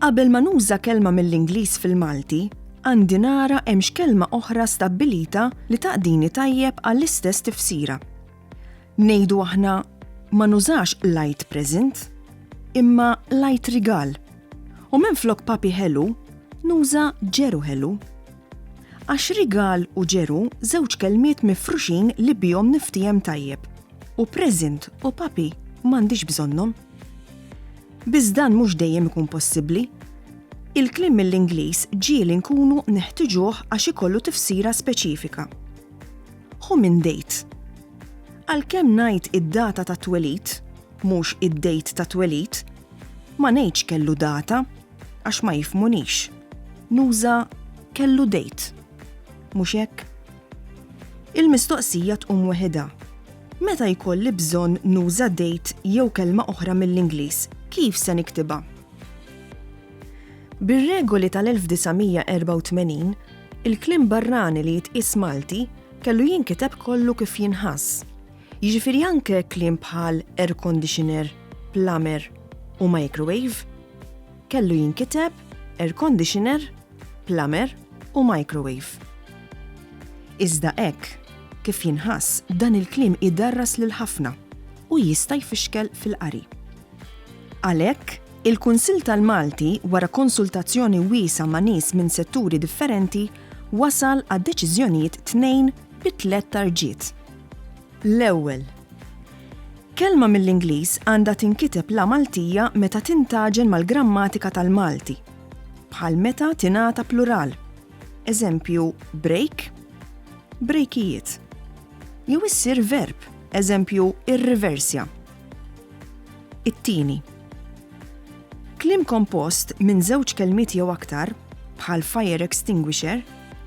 Qabel ma nuża kelma mill-Ingliż fil-Malti, għandi nara hemm x'kelma oħra stabbilita li taqdini tajjeb għall-istess tifsira. Ngħidu aħna ma nużax light present, imma light rigal. U minn flok papi ħelu, nuża ġeru ħelu. Għax rigal u ġeru żewġ kelmiet mifruxin li bihom niftiehem tajjeb, u present u papi m'għandix bżonnhom. Biss dan mhux dejjem ikun possibbli. Il-kliem mill-Ingliż ġieli nkunu neħtiġuh għax ikollu tifsira speċifika. Hu minn date. Għalkemm ngħid id-data tat-twelid, mhux id-date tat-twelid, ma ngħidx kellu data. għax ma jifmunix. Nuża kellu dejt. Mhux hekk? Il-mistoqsija tqum weħidha. Meta jkolli bżonn nuża dejt jew kelma oħra mill-Ingliż, kif se niktibha? Bir-regoli tal-1984, il-kliem barrani li jitqies Malti kellu jinkiteb kollu kif jinħass. Jiġifieri anke kliem bħal air conditioner, plumber u microwave kellu jinkiteb air conditioner, plumber u microwave. Iżda hekk kif jinħass dan il-kliem idarras lil ħafna u jista' jfixkel fil-qari. Għalhekk, il-Kunsill tal-Malti wara konsultazzjoni wiesgħa ma' nies minn setturi differenti wasal għad-deċiżjonijiet tnejn bi tliet tarġiet. L-ewwel, kelma mill-Ingliż għandha tinkiteb la Maltija meta tintaġen mal-grammatika tal-Malti, bħal meta tingħata plural, eżempju break, brejkijiet, jew issir verb, eżempju irriversja. It-tieni, Kliem kompost minn żewġ kelmiet jew aktar, bħal fire extinguisher,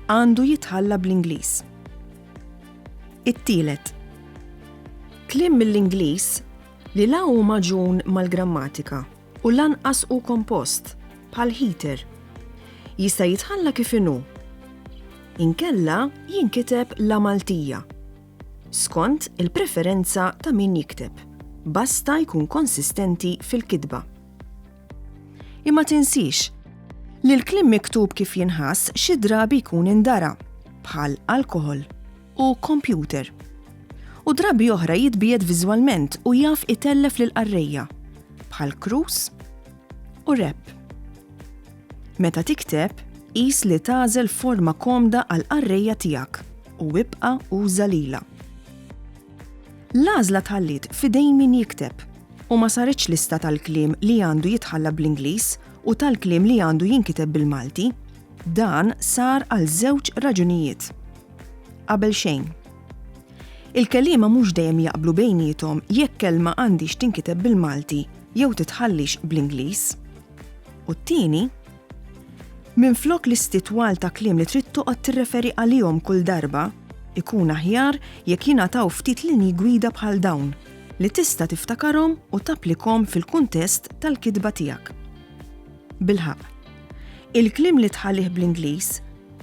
għandu jitħalla bl-Ingliż. It-tielet, kliem mill-Ingliż li la hu magħġun mal-grammatika u lanqas hu kompost, bħal heater, jista' jitħalla kif inhu. Inkella jinkiteb la Maltija. skont il-preferenza ta' min jikteb, basta jkun konsistenti fil-kitba. Imma tinsiex li l-kliem miktub kif jinħass xi drabi jkun indara, bħal alkoħol u kompjuter. U drabi oħra jitbiegħed viżwalment u jaf itellef lill-qarrejja, bħal krus, u rep. Meta tikteb, qis li tagħżel forma komda għal qarrejja tiegħek u ibqa' uża lilha. L-għażla tħalliet f'idejn min jikteb u ma saritx lista tal-kliem li għandu jitħalla bl-Ingliż u tal-kliem li għandu jinkiteb bil-Malti. Dan sar għal żewġ raġunijiet. Qabel xejn. Il-kelima mhux dejjem jaqblu bejnietom jekk kelma għandix tinkiteb bil-Malti jew titħallix bl-Ingliż. U t-tieni, minflok listi twal ta' kliem li trid toqgħod tirreferi għalihom kull darba, ikun aħjar jekk jingħataw ftit linji gwida bħal dawn li tista' tiftakarhom u tapplikhom fil-kuntest tal-kitba tiegħek. Bilħaqq, il-kliem li tħallih bl-Ingliż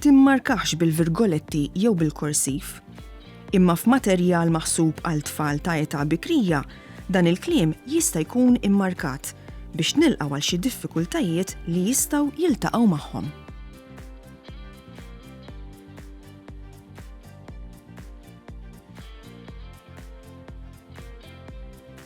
timmarkahx bil-virgoletti jew bil-korsiv. Imma f'materjal maħsub għal tfal ta' età bikrija, dan il-kliem jista' jkun immarkat biex nilqgħu għal xi diffikultajiet li jistgħu jiltaqgħu magħhom.